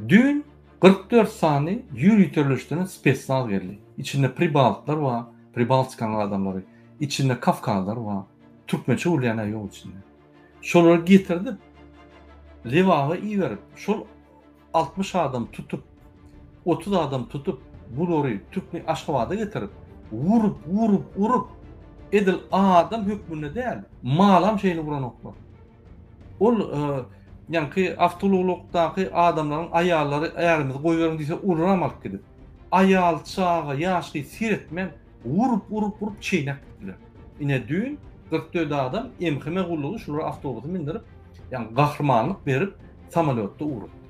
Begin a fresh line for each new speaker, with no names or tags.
Düýn kyrk dört sany ýüriteleşdirilen spesnaz geldi. Içinde pribaltlar bar, Pribaltikanyň adamlary, içinde kafkazlar bar. Türkmençe gürleýän-ä ýok içinde. Şolary getirdip, Lebaba iberip, şol altmyş adam tutup, otuz adam tutup, bulary Türkmen Aşgabada getirip, urup, urup, urup, edil adam hökmünde däl, malam şeýle uranoklar. Ol ýaňky awtoulaglykdaky adamlaryň aýallary ärimizi goýberiň diýse uluram alyp gidip. Aýal, çaga, ýaş gyz seretmän urup urup urup çeýnäp gitdiler. Ine düýn kyrk dört adam MHM gullugy şulary awtobusa mindirip ýaňky gahrymanlyk berip samolýotda ugrupdy.